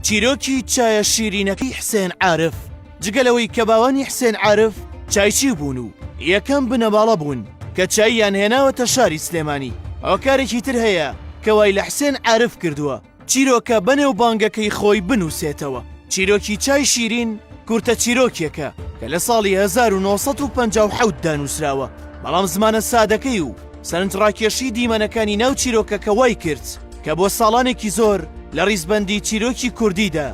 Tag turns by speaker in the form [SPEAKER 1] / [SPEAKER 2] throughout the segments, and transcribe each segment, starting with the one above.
[SPEAKER 1] چیرۆکی چایە شیرینەکەی حسێن عارف جگەلەوەی کە باوانی حسێن عارف چایچی بوون و یەکەم بنەماڵە بوون کە چاییان هێناوەتە شاری سلێمانی هۆکارێکی تر هەیە کە وای لە حسێن عارف کردووە چیرۆکە بەنێو بانگەکەی خۆی بنووسێتەوە چیرۆکی چای شیرین کورتە چیرۆکێکە کە لە ساڵی 1950 دانووسراوە بەڵام زمانە سادەکەی و سەرنجڕاکێشی دیمەنەکانی ناو چیرۆکەکە وای کرد کە بۆ ساڵانێکی زۆر لە ڕیزبەندی چیرۆکی کوردیدا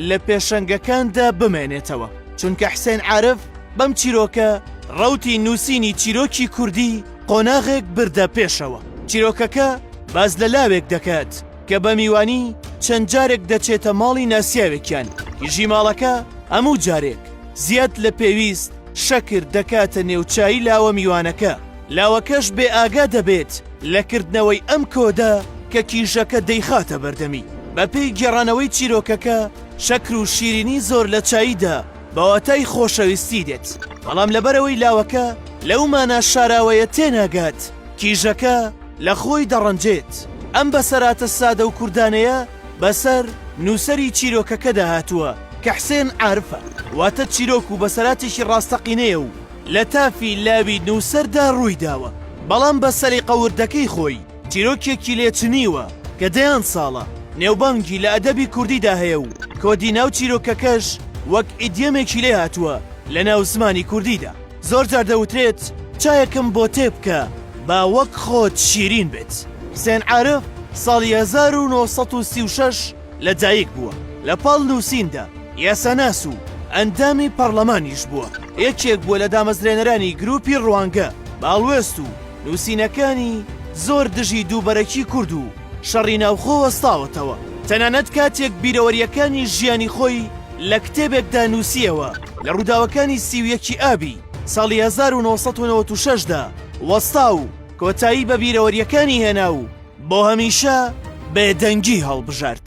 [SPEAKER 1] لە پێشەنگەکاندا بمێنێتەوە، چونکە حسێن عارف بەم چیرۆکە ڕەوتی نووسینی چیرۆکی کوردی قۆناغێک بردە پێشەوە. چیرۆکەکە باس لە لاوێک دەکات کە بە میوانی چەند جارێک دەچێتە ماڵی ناسیاوێکیان، کیژی ماڵەکە هەموو جارێک زیاد لە پێویست شەکر دەکاتە نێو چایی لاوە میوانەکە، لاوەکەش بێ ئاگا دەبێت لە کردنەوەی ئەم کۆدە کە کیژەکە دەیخاتە بەردەمی. بە پێی گێڕانەوەی چیرۆکەکە شەکر و شیرینی زۆر لە چاییدا بە واتای خۆشەویستی دێت، بەڵام لەبەرئەوەی لاوەکە لەو مانا شاراوەیە تێناگات کیژەکە لە خۆی دەڕەنجێت. ئەم بەسەراتە سادە و کوردانەیە بەسەر نووسەری چیرۆکەکەدا هاتووە کە حسێن عارفە، واتە چیرۆک و بەسەراتێکی ڕاستەقینەیە و لە تافی لاوی نووسەردا ڕوویداوە، بەڵام بە سەلیقە وردەکەی خۆی چیرۆکێکی لێ چنیوە کە دەیان ساڵە نێوبانگی لە ئەدەبی کوردیدا هەیە و کۆدی ناو چیرۆکەکەش وەک ئیدیەمێکی لێ هاتووە لە ناو زمانی کوردیدا. زۆر جار دەوترێت چایەکم بۆ تێ بکە با وەک خۆت شیرین بێت. حسێن عارف ساڵی هەزار و نۆ سەد و سی و شەش لەدایک بووە، لە پاڵ نووسیندا یاساناس و ئەندامی پەڕڵەمانیش بووە، یەکێک بووە لە دامەزرێنەرانی گرووپی ڕوانگە باڵوێست و نووسینەکانی زۆر دژی دووبەرەکی کورد و شەڕی ناوخۆ وەستاوەتەوە، تەنانەت کاتێک بیرەوەرییەکانی ژیانی خۆی لە کتێبێکدا نووسییەوە لە ڕووداوەکانی سی و یەکی ئابی ساڵی هەزار و نۆ سەد و نەوەد و شەش دا وەستا و کۆتایی بە بیرەوەرییەکانی هێنا و بۆ هەمیشە بێدەنگی هەڵبژارد.